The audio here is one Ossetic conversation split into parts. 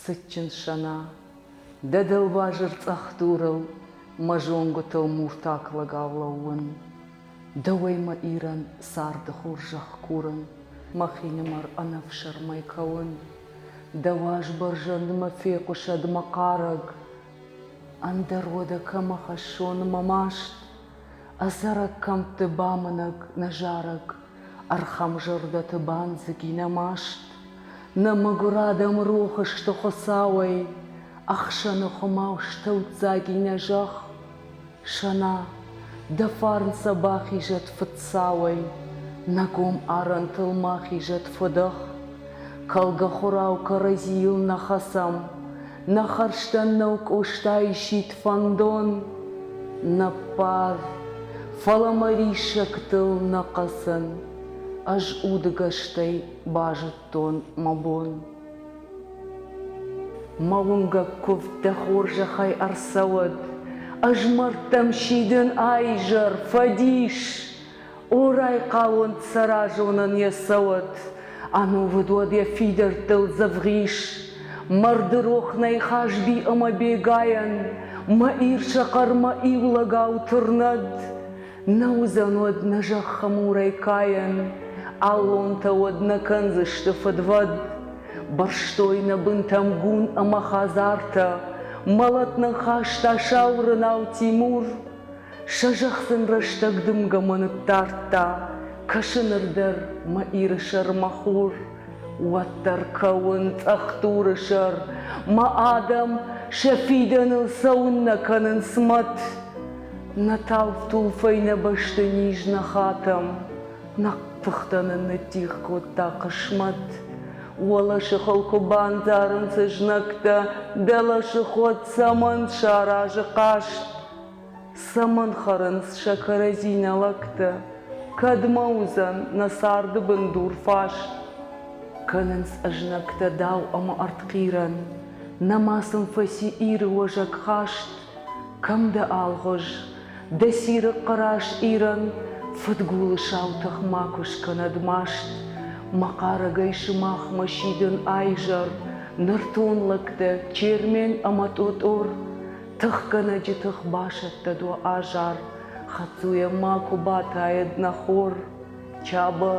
Цытджын Сӕна, дӕ дӕлбазыр цъӕх дурыл мӕ зонгуытыл муртак лӕгау лӕууын, дӕуӕй мӕ Ирӕн царды хорзӕх курын, мӕхинымӕр ӕнӕфсӕрмӕй кӕуын, дӕ уӕзбӕрзӕнд мӕ фехъуысӕд мӕ хъарӕг, ӕндӕр уӕдӕ кӕмӕ хӕссон мӕ маст? Ӕдзӕрӕг кӕмтты бамынӕг нӕ зарӕг, Ӕрхӕмзӕрдӕты бандзыг и нӕ маст. Нӕ мӕгуыр адӕм рохы сты Хуыцауӕй, Ӕхсӕны хуымау стӕвддзаг и нӕ зӕхх. Сӕна, дӕ фарн сӕ бахизӕд фыдцауӕй, Нӕ гом арӕнтыл ма хизӕд фыдӕх. Кӕлгӕ хурау кӕрӕдзийыл нӕ хӕцӕм, Нӕ хӕрзтӕн нӕу Къостайы сидт фӕндон, нӕ бар, Фӕлӕ мӕ риссӕгтыл нӕ хъӕцӕн, Ӕз удыгӕстӕй базыдтон мӕ бон. Мӕ уынгӕг куывд дӕ хорзӕхӕй ӕрцӕуӕд, Ӕз мӕрдтӕм сидын ӕ изӕр, фӕдис! О, райхъалон цӕразонӕн йӕ цӕуӕд, Ӕнувыд уӕд йӕ фидӕрттыл дзӕвгъис. Марды рох нӕй Хазби ӕмӕ Бегайӕн, Мӕ Ир сӕ хъӕрмӕ иулӕгау тырнӕд. Нӕ уыдзӕн уӕд нӕ зӕххы мурӕй кайӕн, Аллонтӕ уӕд нӕ кӕндзысты фыдвӕд. Бырстой нӕ бынтӕм гун ӕмӕ хӕдзартӕ, Мӕлӕт нын хаста сау рынау Тимур. Сӕ зӕхх сын рӕстӕг дымгӕмӕ ныддардта, кӕсы ныр дӕр мӕ Иры сӕр мӕ хур. Уӕддӕр кӕуын цъӕхдуры сӕр, мӕ адӕм сӕ фидӕныл цӕуын нӕ кӕнынц мӕт. Нӕ талф-тулфӕй нӕ бӕсты низ нӕ хатӕм, нӕ тыхтӕ нын ныддих кодта хъысмӕт. Уӕлӕсы хыл куы бандзарынц ызнӕгтӕ, дӕлӕсы ход цӕмӕн саразы хъаст? Цӕмӕн хӕрынц сӕ кӕрӕдзинӕ лӕгтӕ? Кӕдмӕ уыдзӕн нӕ царды бындур фас? Кӕнынц ӕзнӕгтӕ дау ӕмӕ ӕртхъирӕн. Нӕма сын фӕци Иры уӕзӕг хаст. Кӕм дӕ, Алгъуыз? Дӕ цирыхъхъы раз Ирӕн фыдгулы сау тых макуы скӕнӕд маст. Мӕ хъарӕгӕй сымахмӕ сидын ӕизӕр, нӕртон лӕгтӕ Чермен ӕмӕ Тъотъор. Тыхгӕнӕджы тых басӕттӕд уӕ азар, Хӕцуйӕ ма куы батайӕд нӕ хор. Чабо,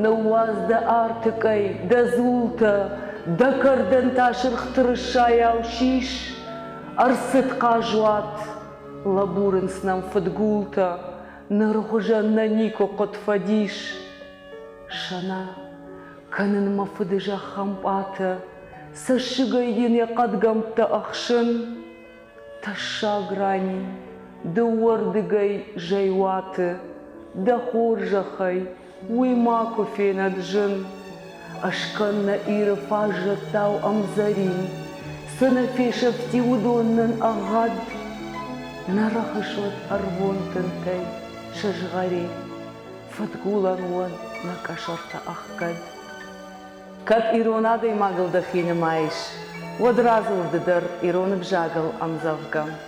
ныууадз дӕ артыкъӕй, дӕ дзултӕ, Дӕ кӕрдӕн та сырх тырыссайау сис. Ӕрцыд хъазуат, лӕбурынц нӕм фыдгултӕ, Ныры хуызӕн нӕ никуы хъуыд фӕдис. Сӕна, кӕнын мӕ фыды зӕххӕмпъатӕ, Цӕссыгӕй йын йӕ хъӕдгӕмттӕ ӕхсын. Тӕссаг рани, дыууӕрдыгӕй зӕй уаты, Дӕ хорзӕхӕй, уый макуы фенӕд зын. Ӕскӕн нӕ Иры фаззӕттау ӕмдзӕрин, Цы нӕ фесӕфти, уыдон нын ӕгъгъӕд. Нӕ рӕхысут ӕрвон тынтӕй сызгъӕри. Фыдгулӕн уон нӕ къӕсӕртӕ ӕхгӕд. Кӕд ирон адӕймагыл дӕхи нымайыс, уӕд радзур ды дӕр ирон ӕвзагыл ӕмдзӕвгӕ.